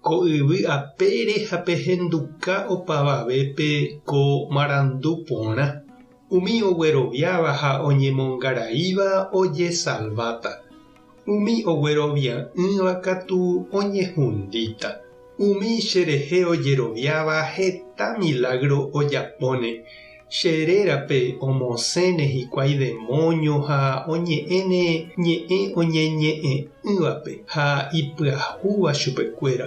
Ko yvy apére ha pehenduka opavavépe ko marandu porã, umi ogueroviáva ha oñemongaraíva ojesalváta, umi oguerovia'ỹva katu oñehundíta. Umi cherehe ojeroviáva heta milágro ojapóne, Che rérape omosẽne hikuái demóño ha oñe'ẽne ñe'ẽ oñeñe'ẽ'ỹvape ha ipyahúva chupekuéra.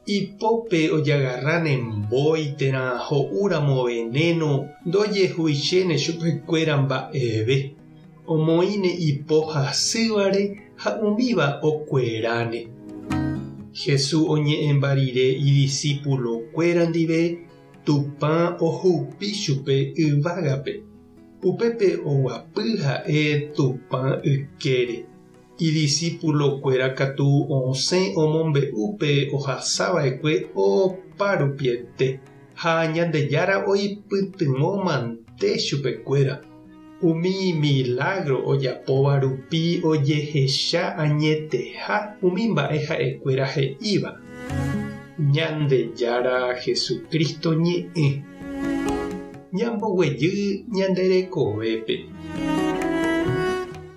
Ipópe ojagarráne mbói térã ho'úramo venéno ndojehuichéne chupekuéra mba'eve. Omoĩne ipo hasývare ha umíva okueráne. Jesús oñe'ẽmba rire idisipulokuéra ndive Tupã ohupi chupe yvágape. Upépe oguapy ha'e Tupã ykére. Idisipulokuéra katu osẽ omombe'u pe ohasava'ekue oparupiete ha Ñandejára oipytyvõmante chupekuéra. Umi milágro ojapóva rupi ojehecha añeteha umi mba'e ha'ekuéra he'íva Ñandejára Jesucristo ñe'ẽ. Ñamboguejy ñande rekovépe.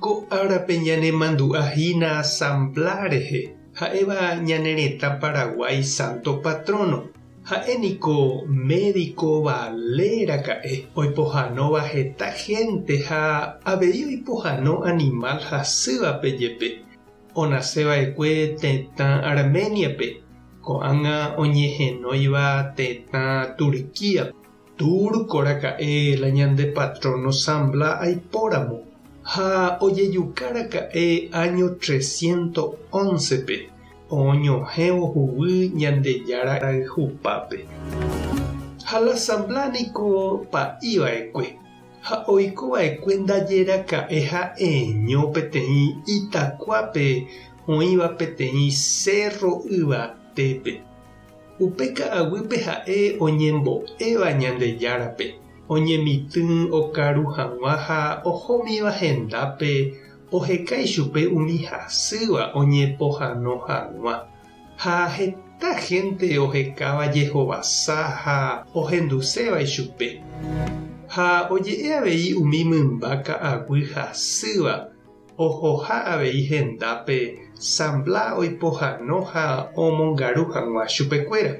Ko árape ñanemandu'a hína Asamblea rehe, ha'éva ñane retã Paraguái Santo Patróno. Ha'e niko médiko vale raka'e, oipohanóva heta hénte ha avei oipohano animál hasývape jepe. Onase va'ekue tetã Arméniape, ko'ág̃a oñehenóiva tetã Turquíape. Turco raka'e la ñande patrono San Bla aipóramo ha ojejuka raka'e año tresciento once-pe oñohẽvo huguy Ñandejára rayhupápe. Ha la San Bla niko pa'i vaekue ha oiko vaekue ndaje raka'e ha'eño peteĩ itakuápe oĩva peteĩ cerro yvatépe. Upe ka'aguýpe ha'e oñembo'éva Ñandejárape, oñemitỹ okaru hag̃ua ha ohómiva hendápe oheka ichupe umi hasýva oñepohano hag̃ua. Ha heta hénte ohekáva jehovasa ha ohenduséva ichupe. Ha oje'e avei umi mymba ka'aguy hasýva. ohoha avei hendápe sambla oipohano ha omongaru hag̃ua chupekuéra.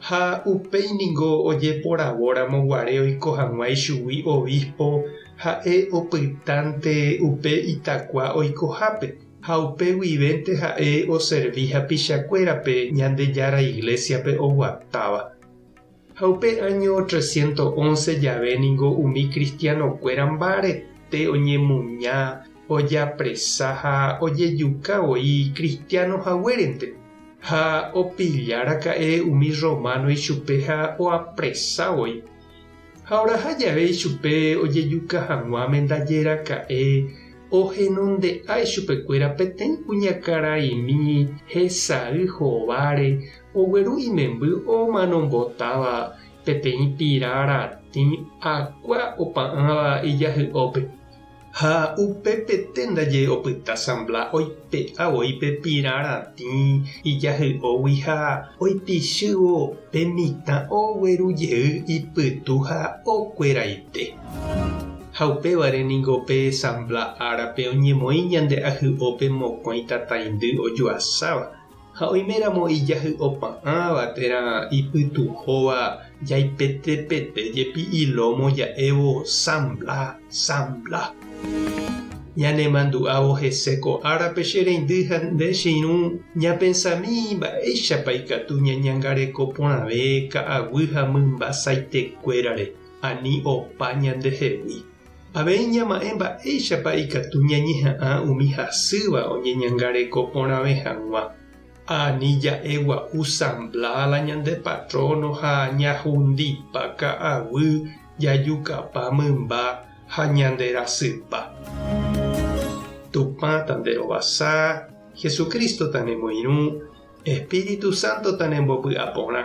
Ha upéi ningo ojeporavóramo guare oiko hag̃ua ichugui obispo ha'e opytánte upe itakua oikohápe, ha upe guivénte ha'e oservi hapichakuérape Ñandejára Iglésiape oguatáva. Ha upe áño treciento once jave ningo umi kristianokuéra mbarete oñemuña, ojapresa ha ojejuka voi kristiáno haguérente. Ha opilla raka'e umi rrománo ichupe ha oapresa voi. Ha oraha jave ichupe ojejuka hag̃uáme ndaje raka'e ohenonde'a ichupekuéra peteĩ kuñakaraimi hesay hováre Ogueru imemby omanombótava peteĩ pira ratĩ akua opa'ãva ijahy'ópe, ha upepete ndaje opyta sambla oipe'a voi pe pira ratĩ ijahy'ógui ha oipichývo pe mitã ogueru jey ipytu ha okueraite. Ha upévare ningo pe sambla árape oñemoĩ ñande ahy'ópe mokõi tataindy ojuasáva, Ha oiméramo ijahy'opa'ãva térã ipytuhóva jaipetepete jepi ilómo ja'évo sãmbla, sãmbla. Ñanemandu'ávo hese ko árape che reindy ha nde che irũ ñapensami mba'éichapa ikatu ñañangareko porãve ka'aguy ha mymba saitekuérare ani opa ñandehegui. Avei ñama'ẽ mba'éichapa ikatu ñañeha'ã umi hasýva oñeñangareko porãve hag̃ua. Ani ja'e gua'u samblála ñande patróno ha ñahundipa ka'aguy, jajukapa mymba ha ñanderasypa. Tupã tanderovasa, Jesucristo tanemoirũ, Espíritu Santo tanembopy'a porã.